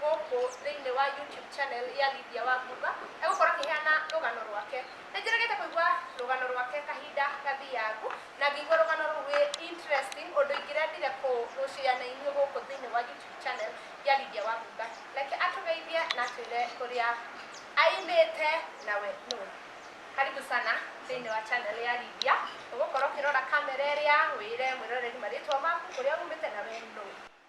gũkũ thĩinĩ wa YouTube channel ya Lydia Wangumba egũkorwo akĩheana rũgano rwake. Nĩ njĩrĩgĩte kũigua rũgano rwake kahinda gathiangu na ngĩigua rũgano rũu rwĩ interesting ũndũ ingĩrendire kũrũshare na inyuĩ gũkũ thĩinĩ wa YouTube channel ya Lydia Wangumba. Reke atũgeithie na atwĩre kũrĩa aimĩte nawe nũ. Karibu sana thĩinĩ wa channel ya Lydia ũgũkorwo ũkĩrora kamera ĩrĩa wĩre mwĩroreri marĩtwa maku kũrĩa umĩte na we nũ.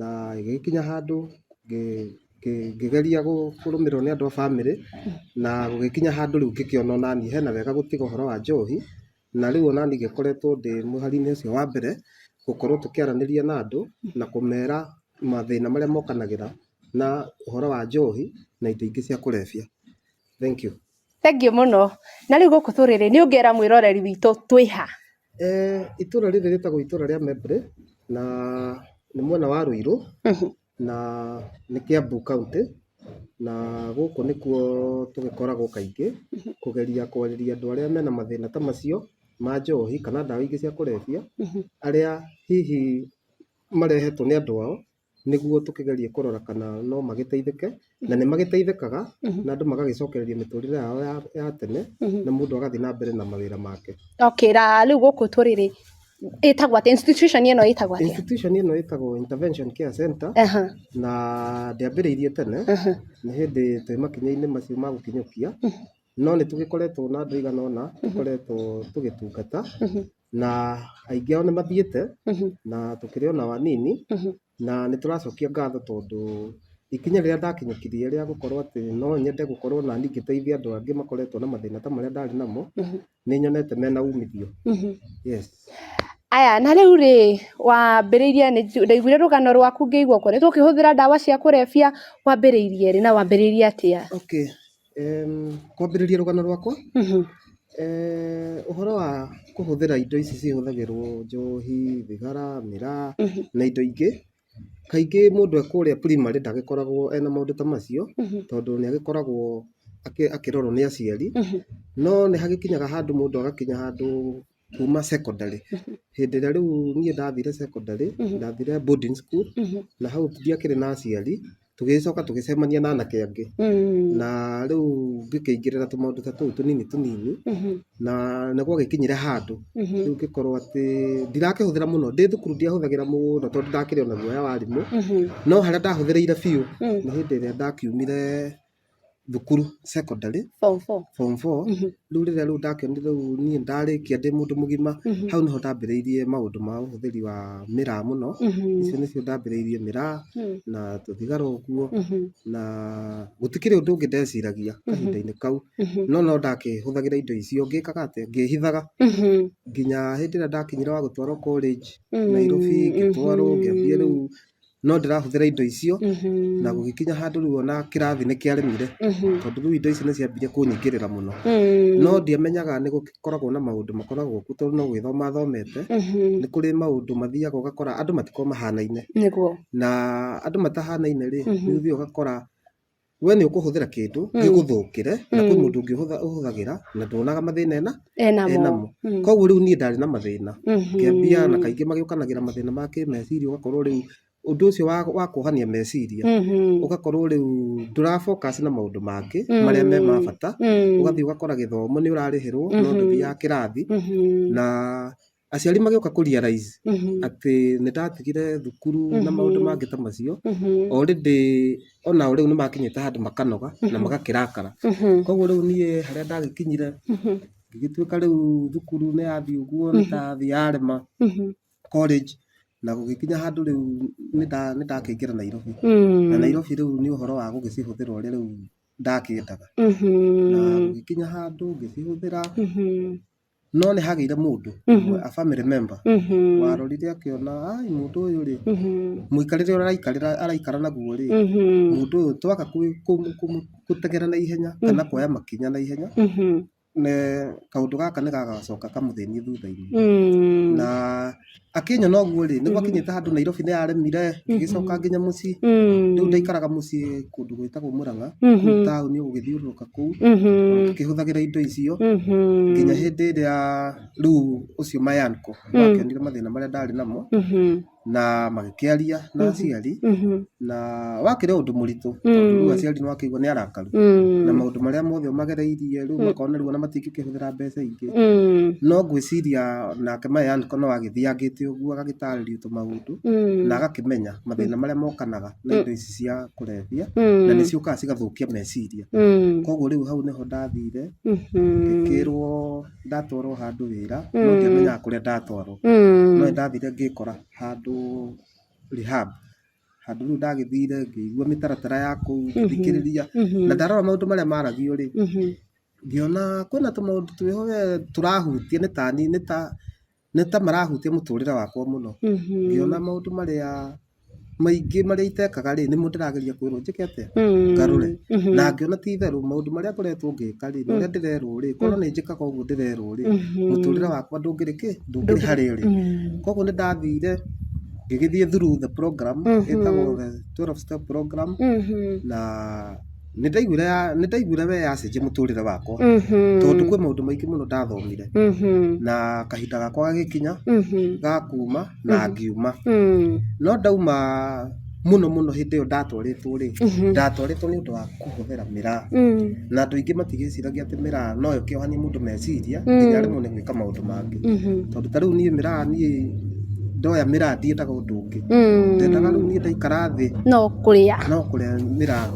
na ĩgĩgĩkinya handũ ngĩgeria kũrũmĩrĩrwo nĩ andũ a bamĩrĩ na gũgĩkinya handũ rĩu ngĩkĩona onaniĩ hena wega gũtiga ũhoro wa njohi na rĩu onaniĩ ngĩkoretwo ndĩ mũhari-inĩ ũcio wa mbere gũkorwo tũkĩaranĩria na andũ na kũmera mathĩna marĩa mokanagĩra na ũhoro wa njohi na indo ingĩ cia kũrebia. Thengiũ. Thengiũ mũno. Na rĩu gũkũ tũrĩrĩ, nĩ ũngĩra mwĩroreri witũ twĩ ha? Eeh itũra rĩrĩ rĩtagwo itũra rĩa Membre na nĩ mwena wa Rũirũ na nĩ Kĩambu kaũntĩ na gũkũ nĩkuo tũgĩkoragwo kaingĩ kũgeria kwarĩria andũ arĩa mena mathĩna ta macio ma njohi kana ndawa ingĩ cia kũrebia arĩa hihi marehetwo nĩ andũ ao. nĩguo tũkĩgerie kũrora kana no magĩteithĩke na nĩ magĩteithĩkaga na andũ magagĩcokereria mĩtũrĩre yao ya, ya tene na mũndũ agathiĩ na mbere na mawĩra make okay ra rĩu gũkũ tũrĩ rĩ ĩtagwo atĩa institution ĩno ĩtagwo atĩa institution ĩno ĩtagwo intervention care center Aha, na ndĩambĩrĩirie tene aha. nĩ hĩndĩ twĩ makinya-inĩ macio ma gũkinyũkia no nĩ tũgĩkoretwo na andũ aigana ũna tũkoretwo tũgĩtungata na aingĩ ao nĩ mathiĩte Mhm. na tũkĩrĩ ona anini Mhm. na nĩ tũracokia ngatho tondũ ikinya rĩrĩa ndakinyũkirie rĩa gũkorwo atĩ no nyende gũkorwo na niĩ ngĩteithia andũ angĩ makoretwo na mathĩna ta marĩa ndarĩ namo Mhm. nĩ nyonete mena umithio Mhm. yes aya na rĩu rĩ wambĩrĩirie nĩ nju- ndaiguire rũgano rwaku ngĩigua ũkoretwo ũkĩhũthĩra ndawa cia kũrebia wambĩrĩirie rĩ na wambĩrĩirie atĩa okay Kwambĩrĩria rũgano rwakwa, ũhoro wa kũhũthĩra indo ici cihũthagĩrwo njohi, thigara, mĩraa na indo ingĩ, kaingĩ mũndũ e kũrĩa primary ndagĩkoragwo ena maũndũ ta macio tondũ nĩ agĩkoragwo akĩrorwo nĩ aciari. No nĩ hagĩkinyaga handũ mũndũ agakinya handũ kuma secondary. Hĩndĩ ĩrĩa rĩu niĩ ndathire secondary, ndathire boarding school, na hau ndiakĩrĩ na aciari, tũgĩgĩcoka tũgĩcemania na anake angĩ. Na rĩu ngĩkĩingĩrĩra tũmaũndũ ta tũu tũnini tũnini, na nĩ gwagĩkinyire handũ rĩu ngĩkorwo atĩ ndirakĩhũthĩra mũno, ndĩ thukuru ndiahũthagĩra mũno tondũ ndakĩrĩ ona guoya wa arimũ, no harĩa ndahũthĩrĩire biũ nĩ hĩndĩ ĩrĩa ndakiumire thukuru secondary form four form four Mhm. rĩu rĩrĩa rĩu ndakĩonire rĩu niĩ ndarĩkia ndĩ mũndũ mũgima Mhm. hau nĩho ndambĩrĩirie maũndũ ma ũhũthĩri wa mĩraa mũno Mhm. icio nĩcio ndambĩrĩirie mĩraa Mhm. na tũthigara ũguo Mhm. na gũtikĩrĩ ũndũ ũngĩ ndeciragia Mhm. kahinda-inĩ kau Mhm. no no ndakĩhũthagĩra indo icio ngĩkaga atĩ ngĩhithaga Mhm. nginya hĩndĩ ĩrĩa ndakinyire wa gũtwarwo college Mhm. Nairobi ngĩtwarwo ngĩambia rĩu no ndĩrahũthĩra indo icio na gũgĩkinya handũ rĩu ona kĩrathi nĩ kĩaremire tondũ rĩu indo ici nĩ ciambirie kũnyingĩrĩra mũno. No ndiamenyaga nĩ gũkoragwo na maũndũ makoragwo kuo tondũ no gwĩthoma athomete. Nĩ kũrĩ maũndũ mathiaga ũgakora andũ matikoragwo mahanaine. Na andũ matahanaine rĩ, nĩ ũthiaga ũgakora we nĩ ũkũhũthĩra kĩndũ Mm. gĩgũthũkĩre na kwĩ Mm. mũndũ ũngĩ ũhũtha- ũhũthagĩra na ndonaga mathĩna ena enamo enamo Mm. koguo rĩu niĩ ndarĩ na mathĩna Mhm. kĩambia na kaingĩ magĩũkanagĩra mathĩna ma kĩmeciria ũgakorwo rĩu ũndũ ũcio wa, wa kuohania meciria Mhm. ũgakorwo rĩu ndũra focus na maũndũ mangĩ Mm. marĩa me ma bata Mm. ũgathiĩ ũgakora gĩthomo nĩ ũrarĩhĩrwo no Mhm. ndũthiaga kĩrathi Mhm. na aciari magĩũka kũ realize atĩ nĩ ndatigire thukuru na maũndũ mangĩ ta macio, already onao rĩu nĩ makinyĩte handũ makanoga na magakĩrakara. Koguo rĩu niĩ harĩa ndagĩkinyire ngĩgĩtuĩka rĩu thukuru nĩ yathiĩ ũguo nĩ ndathiĩ yarema college na gũgĩkinya handũ rĩu nĩ ndakĩingĩra Nairobi. Na Nairobi rĩu nĩ ũhoro wa gũgĩcihũthĩra ũrĩa rĩu ndakĩendaga. Na gũgĩkinya handũ ngĩcihũthĩra... No nĩ hagĩire mũndũ ũmwe, a family member, warorire akĩona ai mũndũ ũyũ rĩ, mũikarĩre ũrĩa araikarĩra araikara naguo rĩ, mũndũ ũyũ twaga kũ- kũ- kũmũ- gũteng'era na ihenya kana kuoya makinya na ihenya, ne- kaũndũ gaka nĩ gagacoka kamũthĩnie thutha-inĩ. Na. Akĩnyona na ũguo rĩ, nĩguo akinyĩte handũ Nairobi nĩ araremire, ngĩgĩcoka nginya mũciĩ. Rĩu ndaikaraga mũciĩ kũndũ gwĩtagwo Mũrang'a, kũu taũni gũgĩthiũrũrũka kũu, ngĩhũthagĩra indo icio, nginya hĩndĩ ĩrĩa rĩu ũcio my uncle akĩonire mathĩna marĩa ndarĩ namo, na magĩ- ũkĩaria na aciari Mhm. na wakĩrĩ ũndũ mũritũ tondũ rĩu aciari nĩ wakĩigua nĩ arakaru Mm. na maũndũ marĩa mothe ũmagereirie rĩu makona rĩu ona matingĩkĩhũthĩra mbeca ingĩ Mm. no ngwĩciria nake maya nĩko no agĩthiangĩte ũguo agagĩtarĩrio tũmaũndũ Mm. na agakĩmenya mathĩna marĩa mokanaga na indo ici cia kũrebia Mm. na nĩ ciũkaga cigathũkia meciria Mm. koguo rĩu hau nĩho ndathire Mhm. ngĩkĩrwo ndatwarwo handũ wĩra no ndiamenyaga kũrĩa ndatwarwo Mm. no nĩ ndathire ngĩkora handũ rehab. Handũ rĩu ndagĩthire ngĩigua mĩtaratara ya kũu ngĩthikĩrĩria na ndarora maũndũ marĩa maragio rĩ, ngĩona kwĩna tũmaũndũ twĩho we tũrahutia nĩ ta niĩ nĩ ta nĩ ta marahutia mũtũrĩre wakwa mũno. Ngĩona maũndũ marĩa maingĩ marĩa itekaga rĩ, nĩmo ndĩrageria kwĩrwo njĩke atĩa ngarũre. Na ngĩona ti itherũ maũndũ marĩa ngoretwo ngĩka rĩ, na ũrĩa ndĩrerwo rĩ, korwo nĩ njĩkaga ũguo ndĩrerwo rĩ, mũtũrĩre wakwa ndũngĩrĩ kĩ? ndũngĩrĩ harĩa ũrĩ. Koguo nĩ ndathire ngĩgĩthiĩ through the program ĩtagwo the twelve step program na nĩ ndaiguire ya nĩ ndaiguire we yacenjia mũtũrĩre wakwa tondũ kwĩ maũndũ maingĩ mũno ndathomire na kahinda gakwa gagĩkinya ga kuuma na ngiuma. No ndauma mũno mũno hĩndĩ ĩyo ndatwarĩtwo rĩ, ndatwarĩtwo nĩ ũndũ wa... kũhũthĩra mĩraa. Na andũ aingĩ matigĩciragia atĩ mĩraa no ĩkĩohanie mũndũ meciria nginya aremwo nĩ gwĩka maũndũ mangĩ. Tondũ ta rĩu niĩ mĩraa niĩ ndoya mĩraa ndiendaga ũndũ ũngĩ. Ndendaga rĩu niĩ ndaikara thĩ no kũrĩa mĩraa.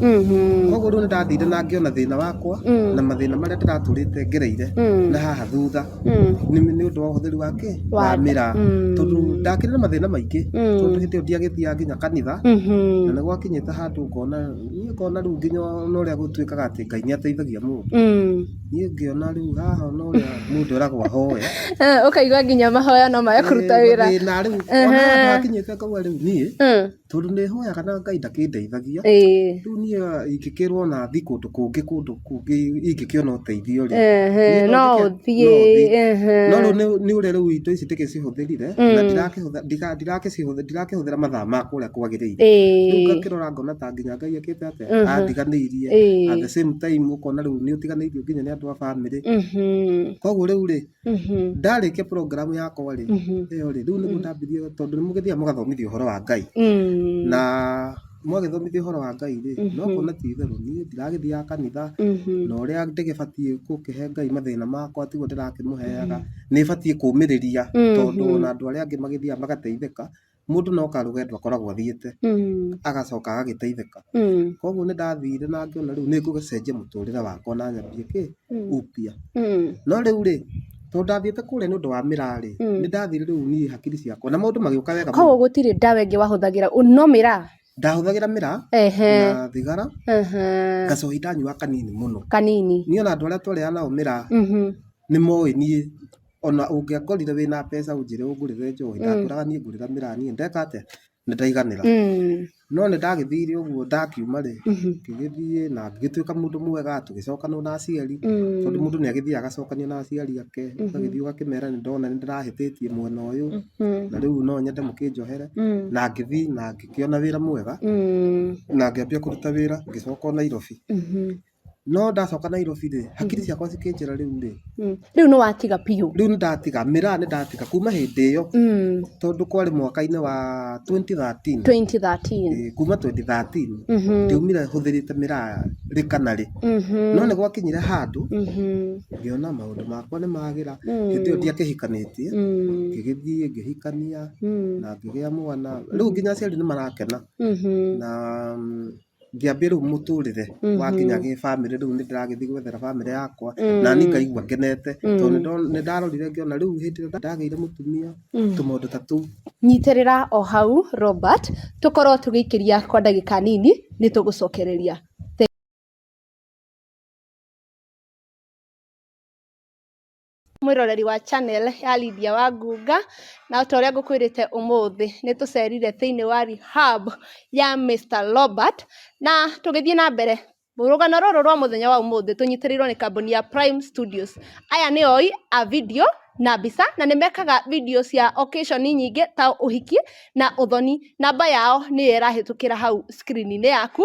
Kũguo rĩu nĩ ndathire na ngĩona thĩna wakwa na mathĩna marĩa ndĩratũrĩte ngereire na haha thutha nĩ ũndũ wa ũhũthĩri wa kĩ? Wa mĩraa. Tondũ ndakĩrĩ na mathĩna maingĩ tondũ hĩndĩ ĩyo ndiagĩthiaga nginya kanitha na nĩ gwakinyĩte handũ ngona... Niĩ ngona rĩu nginya ona ũrĩa gũtuĩkaga atĩ Ngai nĩ ateithagia mũndũ, Mm. niĩ ngĩona rĩu haha ona ũrĩa mũndũ eragwo ahoe. Eh, ũkaigua nginya mahoya no maya kũruta wĩra Ĩĩ, na rĩu Ehe. ona haha hakinyĩte ngauga rĩu niĩ Mm. tondũ nĩ hoyaga na Ngai ndakĩndeithagia. Ĩĩ. Rĩu niĩ ingĩkĩrwo na thiĩ kũndũ kũngĩ kũndũ kũngĩ ingĩkĩona ũteithio rĩ, Ehe, Niĩ no no njĩke- ũthiĩ no ũthiĩ. ehe. no rĩu nĩ- nĩ ũrĩa rĩu indo ici ndĩgĩcihũthĩrire na ndirakĩhũthĩra- ndika- ndirakĩcihũthĩra- ndirakĩhũthĩra mathaa ma kũrĩa kwagĩrĩire rĩu Ĩĩ, ngakĩrora ngona ta nginya ngai akĩte atĩa Mhm. andiganĩirie Ĩĩ. at the same time ũkona rĩu nĩ ũtiganĩirio nginya nĩ andũ a bamĩrĩ mhm. koguo rĩu rĩ ndarĩkia program yakwa rĩ ĩyo rĩ rĩu nĩguo ndambĩrĩria tondũ nĩ mũgĩthiaga mũgathomithio ũhoro wa Ngai na mwagĩthomithio ũhoro wa Ngai rĩ no kuona ti itherũ niĩ ndiragĩthiaga kanitha na ũrĩa ndĩgĩbatiĩ gũkĩhe Ngai mathĩna makwa tiguo ndĩrakĩmũheaga nĩ batiĩ kũmĩrĩria tondũ ona andũ arĩa angĩ magĩthiaga magateithĩka. mũndũ no karũgendo akoragwo athiĩte agacoka agagĩteithĩka. Koguo nĩ ndathire na ngĩona rĩu nĩ ngũgĩcenjia mũtũrĩre wakwa na nyambie kĩ? Upya. No rĩu rĩ, tondũ ndathiĩte kũrĩa nĩ ũndũ wa mĩraa rĩ, nĩ ndathire rĩu niĩ hakiri ciakwa na maũndũ magĩũka wega mũno. Koguo gũtirĩ ndawa ĩngĩ wahũthagĩra no mĩraa? ndahũthagĩra mĩraa ehe na thigara ehe ngacohi ndanyua kanini mũno kanini niĩ ona andũ arĩa twarĩaga nao mĩraa mhm nĩ moĩ niĩ ona ũngĩakorire wĩna mbeca ũnjĩre ũngũrĩre njohi ndakũraga niĩ ngũrĩra mĩraa niĩ ndeka atĩa nĩ ndaiganĩra Mm. no nĩ ndagĩthire ũguo ndakiuma rĩ Mhm. ngĩgĩthiĩ na ngĩgĩtuĩka mũndũ mwega tũgĩcokanwo na aciari Mm. tondũ mũndũ nĩ agĩthiaga agacokanio na aciari ake ũgagĩthiĩ ũgakĩmera nĩ ndona nĩ ndĩrahĩtĩtie mwena ũyũ Mm. na rĩu no nyende mũkĩnjohere Mm. na ngĩthiĩ na ngĩkĩona wĩra mwega Mm. na ngĩambia kũruta wĩra ngĩcoka o Nairobi Mhm. no ndacoka Nairobi rĩ hakiri ciakwa cikĩnjĩra rĩu rĩ Mm. Rĩu nĩ watiga biũ. rĩu nĩ ndatiga mĩraa nĩ ndatiga kuma hĩndĩ ĩyo Mm. tondũ kwarĩ mwaka-inĩ wa 2013 2013. Eh, kuma 2013 Mhm. ndiumire hũthĩrĩte mĩraa rĩ kana rĩ Mhm. no nĩ gwakinyire handũ Mhm. ngĩona maũndũ makwa nĩ magĩra Mm. hĩndĩ ĩyo ndiakĩhikanĩtie Mm. ngĩgĩthiĩ ngĩhikania mm. na ngĩgĩa mwana rĩu nginya aciari nĩ marakena mm-hmm. na mm, ngĩambia rĩu mũtũrĩre mm-hmm. wakinya gĩ bamĩrĩ rĩu nĩ ndĩragĩthiĩ gwethera bamĩrĩ yakwa na niĩ ngaigua ngenete tondũ nĩ ndarorire ngĩona rĩu hĩndĩ ĩrĩa ndagĩire mũtumia tũmaũndũ ta tũu nyitĩrĩra o hau robert tũkorwo tũgĩikĩria kwa ndagĩka nini nĩ tũgũcokereria Mwĩroreri wa channel ya Lydia Wangunga, na o ta ũrĩa ngũkwĩrĩte ũmũthĩ nĩ tũcerire thĩinĩ wa rehab ya Mister Robert, na tũgĩthiĩ na mbere, rũgano rũrũ rwa mũthenya wa ũmũthĩ tũnyitĩrĩirwo nĩ kambuni ya Prime Studios. Aya nĩ oi a video na mbica, na nĩ mekaga video cia occasion nyingĩ ta ũhiki na ũthoni. Namba yao nĩyo ĩrahĩtũkĩra hau screen -inĩ yaku.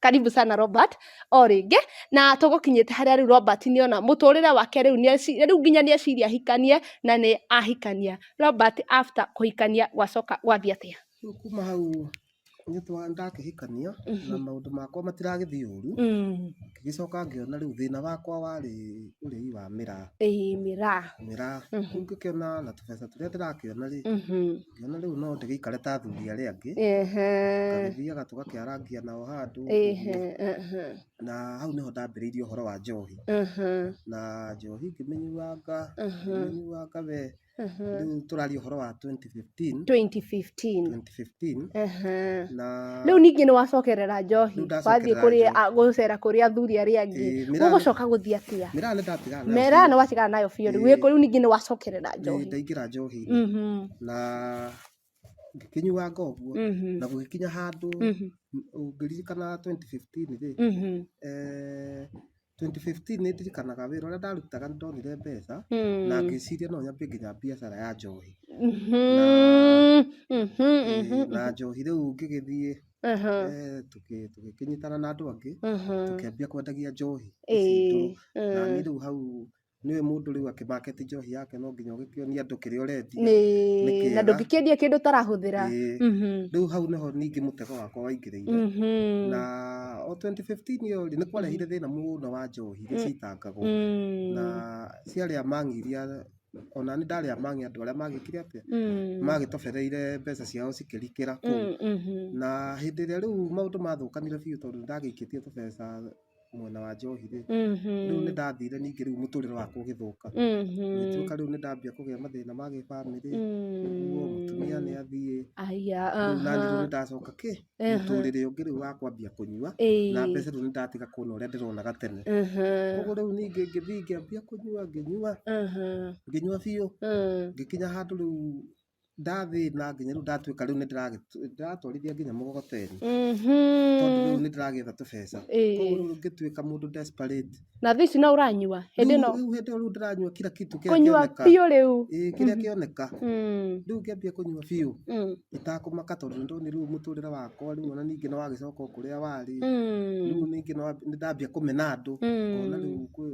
karibu sana Robert o rĩngĩ na tũgũkinyĩte harĩa rĩu Robert nĩ ona mũtũrĩre wake rĩu rĩu nginya nĩ eciria ahikanie na nĩ ahikania Robert after kũhikania gwacoka gwathiĩ atĩa rĩu kuma hau nĩ twa ndakĩhikania na maũndũ makwa matiragĩthiĩ ũru Mm, ngĩgĩcoka ngĩona rĩu thĩna wakwa warĩ ũrĩi wa mĩraa ĩĩ mĩraa mĩraa Mhm. kũu ngĩkĩona na tũbeca tũrĩa ndĩrakĩona rĩ Mhm, Ngĩona rĩu no ndĩgĩikare ta athuri arĩa angĩ, Ehe. tũgĩthiaga tũgakĩarangia nao handũ ũguo. Ehe. Ehe. na hau nĩho ndambĩrĩirie ũhoro wa njohi Ehe. na njohi ngĩmĩnyuanga Ehe. ngĩmĩnyuanga we Ehe. rĩu tũraria ũhoro wa 2015 2015. 2015 Ehe. na Rĩu ningĩ nĩ wacokerera njohi Rĩu ndacokerera wathiĩ kũrĩ njohi. a- gũcera kũrĩ athuri arĩa angĩ Ĩĩ, mĩraa- gũgũcoka gũthiĩ atĩa mĩraa nĩ ndatigana nayo mera biũ. nĩ watigana nayo biũ rĩu Ĩĩ. wĩkũ rĩu ningĩ nĩ wacokerera Ĩĩ, njohi ndaingĩra njohi Mhm. na ngĩkĩnyuanga ũguo Mhm. na gũgĩkinya handũ Mhm. ũngĩririkana 2015 rĩ Mhm. eh, 2015 nĩ ndirikanaga wĩra ũrĩa ndarutaga nĩ ndonire mbeca Mm. na ngĩciria no nyambie nginya biacara ya njohi Mhm. Mhm. Eh, Mhm. na njohi rĩu ngĩgĩthiĩ Aha. eh, tũkĩ- tũgĩkĩnyitana na andũ angĩ Aha. tũkĩambia kwendagia njohi ici Eh. ndũrũ. na niĩ Eh. rĩu hau nĩũĩ mũndũ rĩu akĩmaketi njohi yake no nginya ũgĩkĩonie andũ kĩrĩa ũrendia nĩ Nĩ kĩega. na ndũngĩkĩendia kĩndũ ũtarahũthĩra Ĩĩ. Mhm, rĩu hau nĩho ningĩ mũtego wakwa waingĩrĩire mhm, na o 2015 ĩyo rĩ nĩ kwarehire thĩna mũno wa njohi iria ciitangagwo mm, na ciarĩa mang'i iria ona nĩ ndarĩa mang'i andũ arĩa magĩkire atĩa mm, magĩtobereire mbeca ciao cikĩrikĩra kũu mm, mhm, na hĩndĩ ĩrĩa rĩu maũndũ mathũkanire biũ tondũ nĩ ndagĩikĩtie tũbeca mwena wa njohi rĩ, rĩu nĩ ndathire ningĩ rĩu mũtũrĩre wakwa ũgĩthũka. Ngĩtuĩka rĩu nĩ ndambia kũgĩa mathĩna ma gĩbamĩrĩ, ũguo mũtumia nĩ athiĩ, rĩu naniĩ rĩu nĩ ndacoka kĩ, mũtũrĩre ũngĩ rĩu wa kwambia kũnyua, na mbeca rĩu nĩ ndatiga kuona ũrĩa ndĩronaga tene. Ũguo rĩu niĩ ngĩthiĩ ngĩambia kũnyua, ngĩnyua, ngĩnyua biũ, ngĩkinya handũ rĩu ndathĩna nginya rĩu ndatuĩka rĩu nĩ ndĩratwarithia nginya mũgogoteni tondũ rĩu nĩ ndĩragĩetha tũbeca koguo rĩu ngĩtuĩka mũndũ desperate na thĩ ici no ũranyua hĩndĩ ĩno rĩu hĩndĩ ĩyo rĩu ndĩranyua kira kitu kĩrĩa kĩoneka kũnyua biũ rĩu kĩrĩa kĩoneka rĩu ngĩambia kũnyua biũ itakũmaka tondũ nĩ ndonire rĩu mũtũrĩre wakwa rĩu ona ningĩ nĩ wagĩcoka o kũrĩa warĩ rĩu ningĩ nĩ ndambia kũmena andũ ngona rĩu kwĩ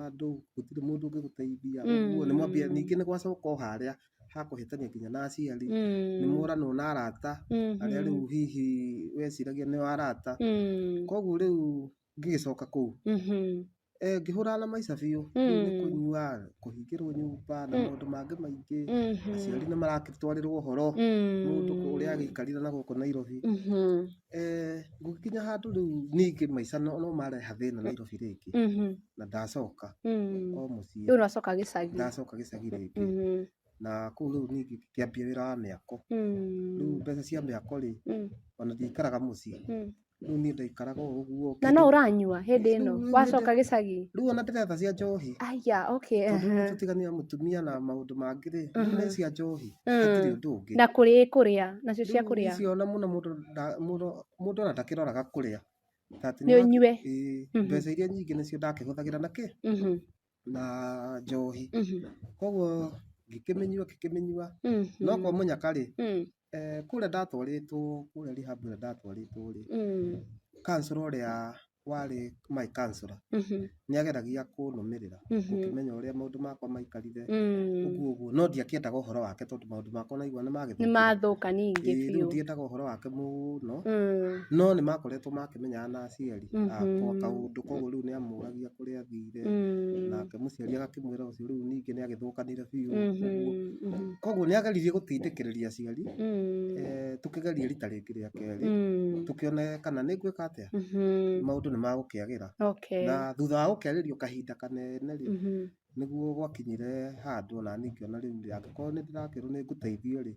andũ gũtirĩ mũndũ ũngĩgũteithia ũguo nĩ mwambia ningĩ nĩ gwacoka o harĩa ha kũhĩtania nginya na aciari, nĩ Mm. mũranwo na arata Mhm. arĩa rĩu hihi weciragia nĩ arata. Mm. Koguo rĩu ngĩgĩcoka kũu Mhm. eh, ngĩhũrana na maica biũ, rĩu nĩ Mm. kũnyua, kũhingĩrwo nyũmba na Mm. maũndũ mangĩ maingĩ. Mhm. Aciari nĩ marakĩtwarĩrwo ũhoro, Mm. mũndũ ũrĩa agĩikarire na gũkũ Nairobi. Mhm. Eh, ngũgĩkinya handũ rĩu ningĩ maica no no mareha thĩna Nairobi rĩngĩ Mhm. na ndacoka Mm. o mũciĩ Rĩu nacoka gĩcagi. ndacoka gĩcagi rĩngĩ Mhm. na kũu rĩu ningĩ ngĩambia wĩra wa mĩako Mm. rĩu mbeca cia mĩako rĩ Mm. ona ndiaikaraga mũciĩ Mm. rĩu niĩ ndaikaraga o ũguo Na no ũranyua hĩndĩ ĩno Rĩu- rĩu wacoka hĩndĩ- gĩcagi. rĩu ona ndĩretha cia njohi Aya, okay. tondũ rĩu aha. tũtiganĩra mũtumia na maũndũ mangĩ rĩ Mhm. nĩ cia njohi hatirĩ ũndũ ũngĩ na kũrĩ kũrĩa nacio cia Rĩu kũrĩa icio ona mũno mũndũ nda- mũndũ mũndũ ona ndakĩroraga kũrĩa Ta atĩ nĩ nĩũra- ũnyue Ĩĩ, Mhm. mbeca iria nyingĩ nĩcio ndakĩhũthagĩra na kĩ Mhm, na njohi mhm, koguo ngĩkĩmĩnyua ngĩkĩmĩnyua mhm, no kwa mũnyaka rĩ mhm, eh, kũrĩa ndatwarĩtwo kũrĩa rehab ĩrĩa ndatwarĩtwo rĩ mhm, kansũra ũrĩa warĩ my counselor Mhm. nĩ ageragia kũnũmĩrĩra Mhm. gũkĩmenya ũrĩa maũndũ makwa maikarire Mm. ũguo ũguo no ndiakĩendaga ũhoro wake tondũ maũndũ makwa naigua nĩ nĩ magĩthũkire mathũka ningĩ Ĩĩ, rĩu biũ ndiendaga ũhoro wake mũno Mm. no nĩ makoretwo makĩmenyaga na aciari Mhm. akwa kaũndũ koguo rĩu nĩ amũragia kũrĩa athire Mm. nake mũciari agakĩmwĩra ũcio rĩu ningĩ nĩ agĩthũkanire biũ ũguo Mhm. Mhm. koguo nĩ ageririe gũtindĩkĩrĩria aciari Mm. eh, tũkĩgeria rita rĩngĩ rĩa kerĩ Mm. tũkĩone kana nĩ ngwĩka atĩa ũkĩagĩra maũndũ nĩ magũkĩagĩra na thutha wa gũkĩarĩrio kahinda kanene rĩ nĩguo gwakinyire handũ ona niĩ ngĩona rĩu rĩ angĩkorwo nĩ ndĩrakĩrwo nĩ ngũteithio rĩ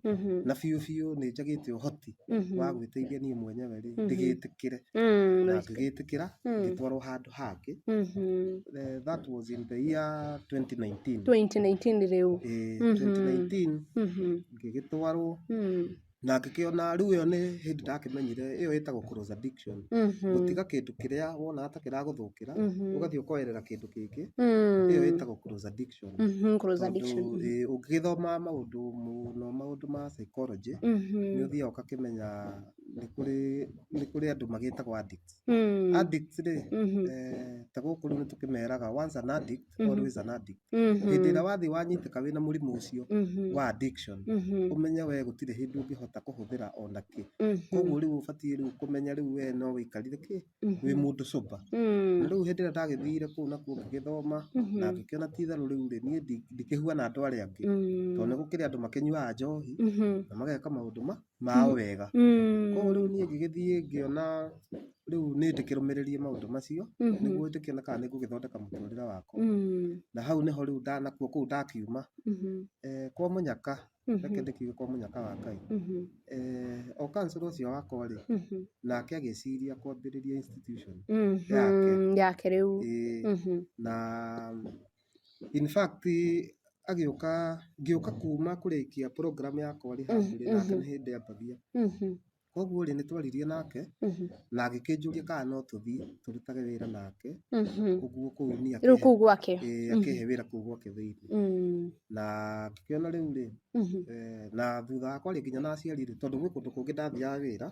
na biũ biũ nĩ njagĩte ũhoti wa gwĩteithia niĩ mwenyewe rĩ ndĩgĩtĩkĩre na ngĩgĩtĩkĩra ngĩtwarwo handũ hangĩ that was in the year 2019 2019 rĩu ĩĩ 2019 ngĩgĩtwarwo na ngĩkĩona rĩu ĩyo nĩ hĩndĩ ndakĩmenyire ĩyo ĩtagwo close addiction Mhm. gũtiga kĩndũ kĩrĩa wonaga ta kĩragũthũkĩra Mhm. ũgathiĩ ũkoerera kĩndũ kĩngĩ Mm. ĩyo ĩtagwo close addiction Mhm, close Tondũ, addiction. ĩĩ, ũngĩgĩthoma maũndũ mũno maũndũ ma psychology Mhm. nĩ ũthiaga ũgakĩmenya nĩ kũrĩ nĩ kũrĩ andũ magĩtagwo addicts Mm. addicts rĩ Mhm. eh, ta gũkũ rĩu nĩ tũkĩmeraga once an addict Mhm. always an addict Mhm. hĩndĩ ĩrĩa wathiĩ wanyitĩka wĩna mũrimũ ũcio Mhm. wa addiction Mhm. ũmenye we gũtirĩ hĩndĩ ũngĩhota kũhũthĩra ona kĩ Mhm. koguo rĩu ũbatiĩ rĩu kũmenya rĩu we no wĩikarire kĩ Mhm. wĩ mũndũ sober Mm. na rĩu hĩndĩ ĩrĩa ndagĩthire kũu nakuo ngĩgĩthoma Mhm. na ngĩkĩona ti itherũ rĩu rĩ niĩ ndi- ndikĩhuana andũ arĩa angĩ Mm. tondũ nĩ gũkĩrĩ andũ makĩnyuaga njohi Mhm. na mageka maũndũ ma mao wega. Koguo rĩu niĩ ngĩgĩthiĩ ngĩona rĩu nĩ ndĩkĩrũmĩrĩrie maũndũ macio nĩguo njũkĩone kana nĩ ngũgĩthondeka mũtũrĩre wakwa. Na hau nĩho rĩu nakuo kũu ndakiuma kwa mũnyaka, reke ndĩkiuge kwa mũnyaka wa Ngai, o councillor ũcio wakwa rĩ, nake agĩciria kwambĩrĩria institution yake. Na... In fact agĩũka ngĩũka kuma kũrĩkia program yakwa rĩ handũ rĩ nake nĩ hĩndĩ ambagĩa. Koguo rĩ nĩ twaririe nake na agĩkĩnjũria kana no tũthiĩ tũrutage wĩra nake ũguo kũu niĩ akĩhe. Rĩu kũu gwake? Ĩĩ akĩhe wĩra kũu gwake thĩinĩ. Na ngĩkĩona rĩu rĩ na thutha wa kwaria nginya na aciari rĩ tondũ gwĩ kũndũ kũngĩ ndathiaga wĩra,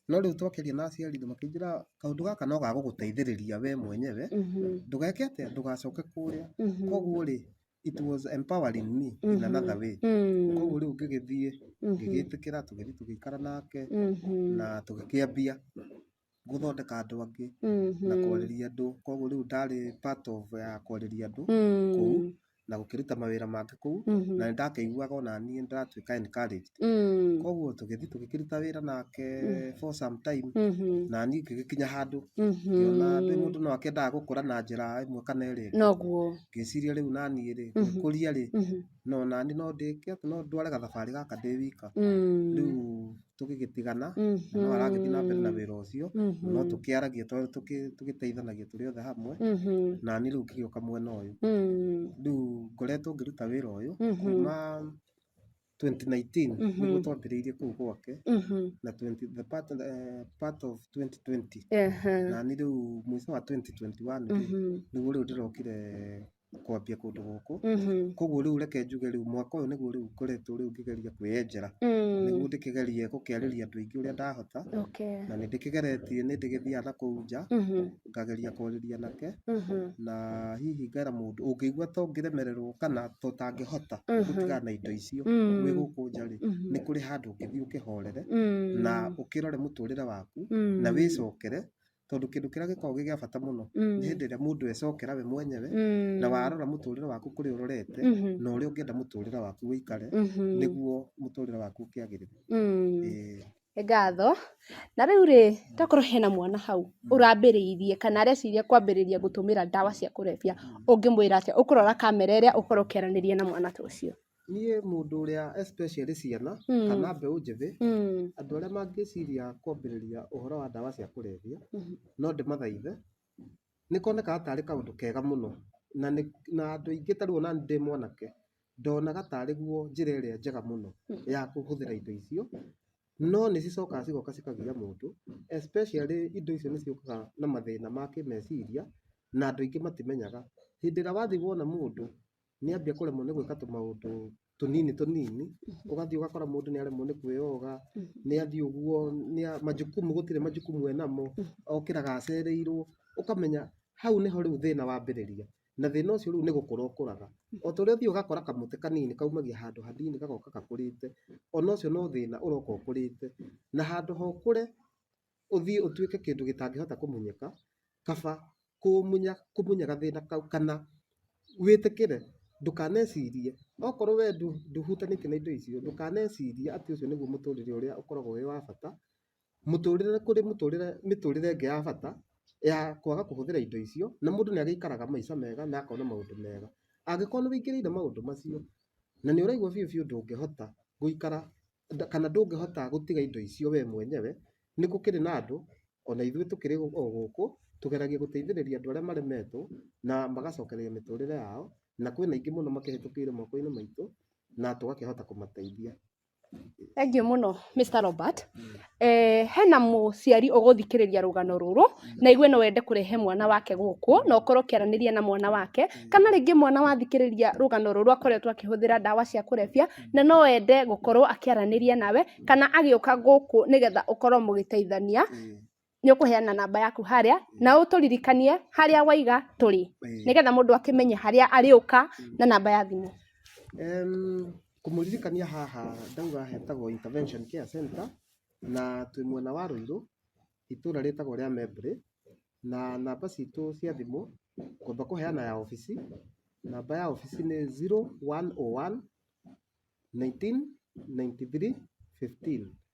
no rĩu twakĩaria na aciari rĩ makĩnjĩra kaũndũ gaka no gagũgũteithĩrĩria we mwenyewe ndũgeke atĩa ndũgacoke kũrĩa koguo rĩ it was empowering me in another way koguo rĩu ngĩgĩthiĩ ngĩgĩtĩkĩra tũgĩthiĩ tũgĩikara nake na tũgĩkĩambia gũthondeka andũ angĩ na kwarĩria andũ koguo rĩu ndarĩ part of ya kwarĩria andũ kũu na gũkĩruta mawĩra mangĩ kũu Mhm. na nĩ ndakĩiguaga ona niĩ nĩ ndatuĩka encouraged Mm. koguo tũgĩthiĩ tũgĩkĩruta wĩra nake for some time Mhm. na niĩ ngĩgĩkinya handũ Mhm. ngĩona ndĩ mũndũ no akendaga gũkũra na njĩra ĩmwe kana ĩrĩa ĩngĩ. noguo ngĩciria rĩu naniĩ rĩ Mhm. ngĩkũria rĩ Mhm. no nani no ndĩke atĩ no ndware gathabarĩ gaka ndĩ wika Mm. rĩu tũgĩgĩtigana na no aragĩthiĩ na mbere na wĩra ũcio no tũkĩaragia tũ- tũkĩ- tũgĩteithanagia tũrĩ othe hamwe na niĩ rĩu ngĩgĩũka mwena ũyũ rĩu ngoretwo ngĩruta wĩra ũyũ kuma 2019 nĩguo twambĩrĩirie kũu gwake na 20 the part, eh, part of 2020 na niĩ rĩu mũico wa 2021 rĩ, nĩguo rĩu ndĩrokire kwambia kũndũ gũkũ Mhm. koguo rĩu reke njuge rĩu mwaka ũyũ nĩguo rĩu ngoretwo rĩu ngĩgeria kwĩyenjera Mm. nĩguo ndĩkĩgerie gũkĩarĩria andũ aingĩ ũrĩa ndahota Okay. na nĩ ndĩkĩgeretie nĩ ndĩgĩthiaga na kũu nja Mhm. ngageria kwarĩria nake Mhm. na hihi ngera mũndũ ũngĩigua to ngĩremererwo kana to tangĩhota Mhm. gũtigana na indo icio Mm. wĩ gũkũ nja rĩ Mhm. nĩ kũrĩ handũ ũngĩthiĩ ũkĩhorere Mm. na ũkĩrore mũtũrĩre waku Mm. na wĩcokere tondũ kĩndũ kĩrĩa gĩkoragwo gĩ gĩa bata mũno Mm. nĩ hĩndĩ ĩrĩa mũndũ ecokera we mwenyewe Mm. na warora mũtũrĩre waku kũrĩa ũrorete Mhm. na ũrĩa ũngĩenda mũtũrĩre waku ũikare Mhm. nĩguo mũtũrĩre waku ũkĩagĩrĩre Mm. Ĩĩ. Nĩ ngatho na rĩu rĩ tokorwo hena mwana hau ũrambĩrĩirie kana areciria kwambĩrĩria gũtũmĩra ndawa cia kũrebia ũngĩmwĩra atĩa ũkũrora kamera ĩrĩa ũkorwo ũkĩaranĩria na mwana ta ũcio Niĩ mũndũ ũrĩa especially ciana kana mbeũ njĩthĩ, andũ arĩa mangĩciria kwambĩrĩria ũhoro wa ndawa cia kũrebia, no ndĩmathaithe, nĩ konekaga tarĩ kaũndũ kega mũno na nĩ na andũ aingĩ ta rĩu onaniĩ ndĩ mwanake, ndonaga tarĩ guo njĩra ĩrĩa njega mũno ya kũhũthĩra indo icio, no nĩ cicokaga cigoka cikagia mũndũ especially indo icio nĩ ciũkaga na mathĩna ma kĩmeciria na andũ aingĩ matimenyaga. Hĩndĩ ĩrĩa wathiĩ wona mũndũ nĩ ambia kũremwo nĩ gwĩka tũmaũndũ tũnini tũnini ũgathiĩ ũgakora mũndũ nĩ aremwo nĩ kwĩyoga nĩ athiĩ ũguo nĩ a- majukumu gũtirĩ majukumu enamo okĩraga acereirwo ũkamenya hau nĩho rĩu thĩna wambĩrĩria na thĩna ũcio rĩu nĩ gũkũra ũkũraga o ta ũrĩa ũthiaga ũgakora kamũtĩ kanini kaumagia handũ hanini gagoka gakũrĩte ona ũcio no thĩna ũroka ũkũrĩte na handũ ha ũkũre ũthiĩ ũtuĩke kĩndũ gĩtangĩhota kũmenyeka, kaba kũmunya, kũmunya gathĩna kau kana wĩtĩkĩre ndũkanecirie. Okorwo we ndũhutanĩtie na indo icio, ndũkanecirie atĩ ũcio nĩguo mũtũrĩre ũrĩa ũkoragwo wĩ wa bata. Mũtũrĩre kũrĩ mũtũrĩre mĩtũrĩre ĩngĩ ya bata ya kwaga kũhũthĩra indo icio, na mũndũ nĩagĩikaraga maica mega na akona maũndũ mega. Angĩkorwo nĩwĩingĩrĩire maũndũ macio, na nĩũraigua biũ biũ ndũngĩhota gũikara kana ndũngĩhota gũtiga indo icio we mwenyewe, nĩ gũkĩrĩ na andũ ona ithuĩ tũkĩrĩ o gũkũ tũgeragia gũteithĩrĩria andũ arĩa maremetwo na magacokereria mĩtũrĩre yao, na kwĩna aingĩ mũno makĩhĩtũkĩire moko-inĩ maitũ na tũgakĩhota kũmateithia. Thengiũ mũno Mister Robert, Eh, hena mũciari ũgũthikĩrĩria rũgano rũrũ na igue no wende kũrehe mwana wake gũkũ na ũkorwo ũkĩaranĩria na mwana wake kana rĩngĩ mwana wathikĩrĩria rũgano rũrũ akoretwo akĩhũthĩra ndawa cia kũrebia na no ende gũkorwo akĩaranĩria nawe kana agĩũka gũkũ nĩgetha ũkorwo mũgĩteithania nĩ ũkũheana namba yaku harĩa na ũtũririkanie harĩa waiga tũrĩ nĩgetha mũndũ akĩmenye harĩa arĩũka na namba ya thimũ Em, Kũmũririkania haha ndauga hetagwo Intervention Care Centre, na twĩ mwena wa Rũirũ, itũra rĩtagwo rĩa Membre, na namba citũ cia thimũ, ngwamba kũheana ya obici, namba ya obici nĩ zero one o one, nineteen ninety three fifteen.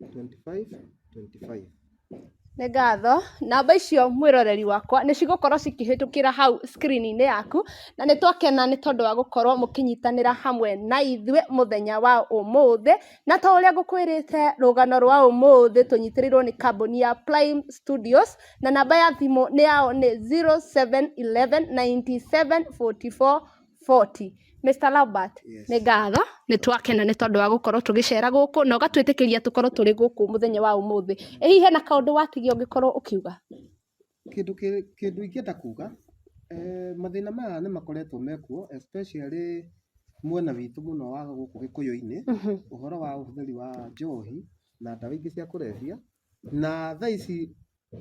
25 25 Nĩ ngatho. Namba icio mwĩroreri wakwa nĩ cigũkorwo cikĩhĩtũkĩra hau screen-inĩ yaku, na nĩ twakena nĩ tondũ wa gũkorwo mũkĩnyitanĩra hamwe na ithuĩ mũthenya wa ũmũthĩ. Na ta ũrĩa ngũkwĩrĩte rũgano rwa ũmũthĩ tũnyitĩrĩirwo nĩ kambuni ya Prime Studios, na namba ya thimũ yao nĩ 0711 97 44 40. Mister Lambert, Yes. nĩ ngatho nĩ twakena nĩ tondũ wa gũkorwo tũgĩcera gũkũ na ũgatwĩtĩkĩria tũkorwo tũrĩ gũkũ mũthenya wa ũmũthĩ. Ĩ hihi hena kaũndũ watigia ũngĩkorwo ũkiuga? Kĩndũ kĩ- kĩndũ ingĩenda kuga eh, mathĩna maya nĩ makoretwo mekuo especially mwena witũ mũno wa gũkũ gĩkũyũ-inĩ ũhoro wa ũhũthĩri wa njohi na ndawa ingĩ cia kũrebia Na thaa ici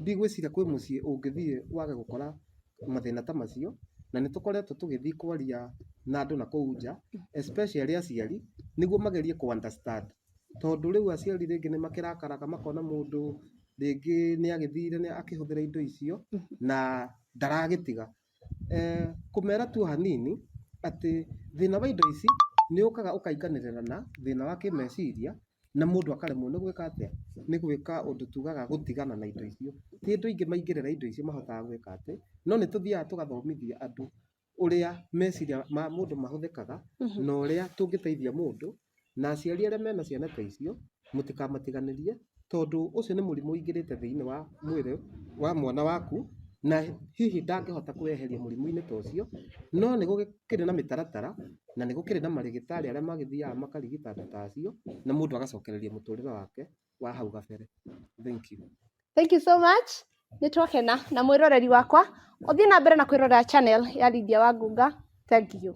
ndigwĩciria kwĩ mũciĩ ũngĩthiĩ wage gũkora mathĩna ta macio, na nĩ tũkoretwo tũgĩthiĩ kwaria na andũ na kũu nja, especially aciari, nĩguo magerie kũ understand. Tondũ rĩu aciari rĩngĩ nĩ makĩrakaraga makona mũndũ rĩngĩ nĩ agĩthire nĩ akĩhũthĩra indo icio, na ndaragĩtiga. Kũmera tu hanini, atĩ thĩna wa indo ici nĩ ũkaga ũkainganĩrĩra na thĩna wa kĩmeciria. na mũndũ akaremwo nĩ gwĩka atĩa? Nĩ gwĩka ũndũ tugaga gũtigana na indo icio. Ti andũ aingĩ maingĩrĩra indo icio mahotaga gwĩka atĩ, no nĩ tũthiaga tũgathomithia andũ ũrĩa meciria ma mũndũ mahũthĩkaga na ũrĩa tũngĩteithia mũndũ, na aciari arĩa mena ciana ta icio mũtikamatiganĩrie tondũ ũcio nĩ mũrimũ ũingĩrĩte thĩiniĩ wa mwĩrĩ wa mwana waku na hihi ndangĩhota kwĩyeheria mũrimũ-inĩ ta ũcio, no nĩ gũkĩrĩ na mĩtaratara Na nĩ gũkĩrĩ na marĩgĩtarĩ arĩa magĩthiaga makarigita andũ ta acio, na mũndũ agacokereria mũtũrĩre wake wa hau gabere. Thank you. Thank you so much. Nĩ twakena na mwĩroreri wakwa. Ũthiĩ na mbere na kwĩrorera channel ya Lydia Wangunga. Thank you.